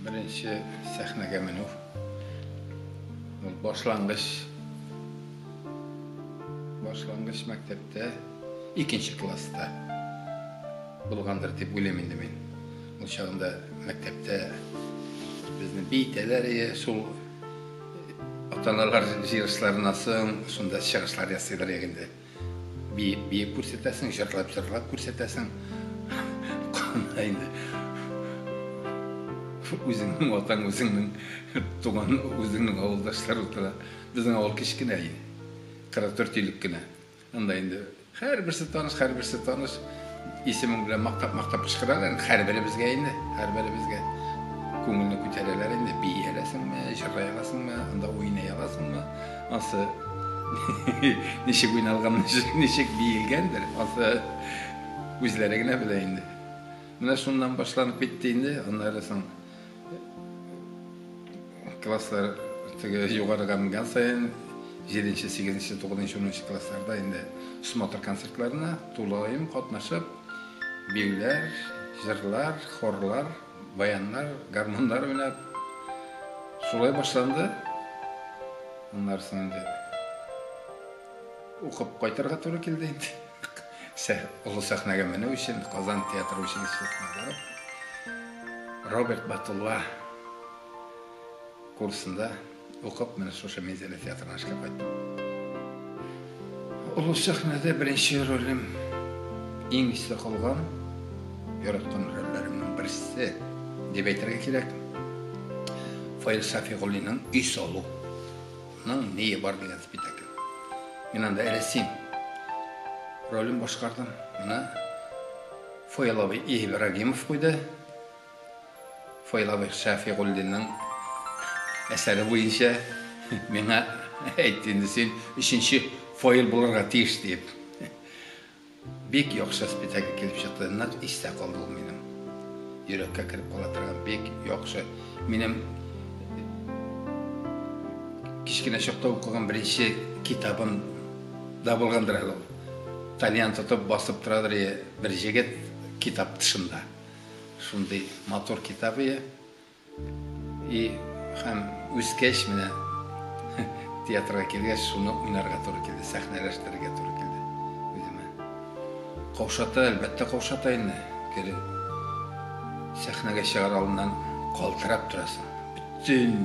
Беренче сәхнәгә менү. Ул башлангыч башлангыч мәктәптә икенче класста булгандыр дип уйлыйм инде мин. Ул чагында мәктәптә безне бийтәләр ие, шул аталарлар җыелышларына соң шунда чыгышлар ясыйлар егенде. Биеп, биеп күрсәтәсең, җырлап, җырлап күрсәтәсең. Кана инде. Үзеңнең атаң, үзеңнең туган, үзеңнең авылдашлар утыра. Безнең авыл кечкенә инде. 44 илек кенә. Анда инде һәрберсе таныш, һәрберсе таныш. Исемең белән мактап-мактап кычкыралар инде һәрберебезгә инде, һәрберебезгә. Күңелне күтәрәләр инде, бии аласыңмы, җырлый аласыңмы, анда уйный аласыңмы? Ансы ничек уйналган, ничек биелгәндер, ансы үзләре генә белә инде. Менә шуннан башланып китте инде, аннары соң Класслар теге югарыга менгән саен 7-нче, 8-нче, 9-нчы, 10-нчы классларда инде смотр концертларына тулаем катнашып, биюләр, җырлар, хорлар, баяннар, гармуннар уйнап шулай башланды. Аннары соң инде укып кайтырга туры килде инде. Олы сәхнәгә менү өчен Казан театры училищесына барып, Роберт Батулла курсында укып, менә шушы Минзәлә театрына эшкә кайттым. Олы сәхнәдә беренче ролем иң истә калган, яраткан рольләремнең берсе дип әйтергә кирәк, Фаил Шафигуллинның Өй салу. Ның нее бар дигән спектакль. Мин анда рәсим ролен башкардым. Моны Фойлавый Ибрагимов куйды. Фойлавый Шәфигуллинның әсәре буенча миңа әйтте инде син өченче фойл булырга тиеш диеп. Бик яхшы спектакль килеп чыкты, нык истә калды ул минем. Йөрәккә кереп кала торган бик яхшы. Минем кечкенә чакта укыган беренче китабым да булгандыр әле ул. Тальян тотып басып торадыр бер җегет китап тышында. Шундый матур китап ие. И һәм үскәч менә театрга килгәч, шуны уйнарга туры килде, сәхнәләштерергә туры килде үземә. Каушата, әлбәттә, каушата инде. Кире сәхнәгә чыгар алдыннан калтырап торасың. Бөтен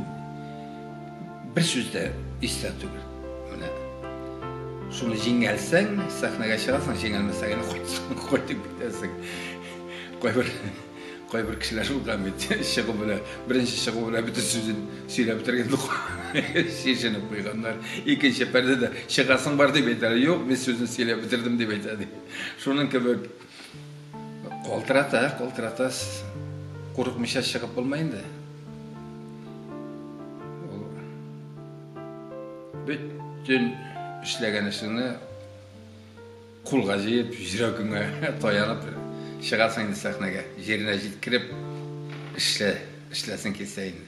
бер сүз дә истә түгел. Менә шуны җиңгәлсәң, сәхнәгә чыгасың, җиңелмәсәң, кайтып кайтып китәсең. Кайбер Кайбер кешеләр шул да бит, чыгу белән, беренче чыгу белән бөтен сүзен сөйләп бетергән юк. Чишенеп куйганнар. Икенче пәрдәдә чыгасың бар дип әйтәләр. Юк, мин сүзен сөйләп бетердем дип әйтә ди. Шуның кебек калтырата, калтырата курыкмыйча чыгып булмый инде. Бөтен эшләгән эшеңне Кулга җыеп, йөрәгеңә таянып чыгасың инде сәхнәгә. Җиренә җиткереп эшлә, эшләсең килсә инде.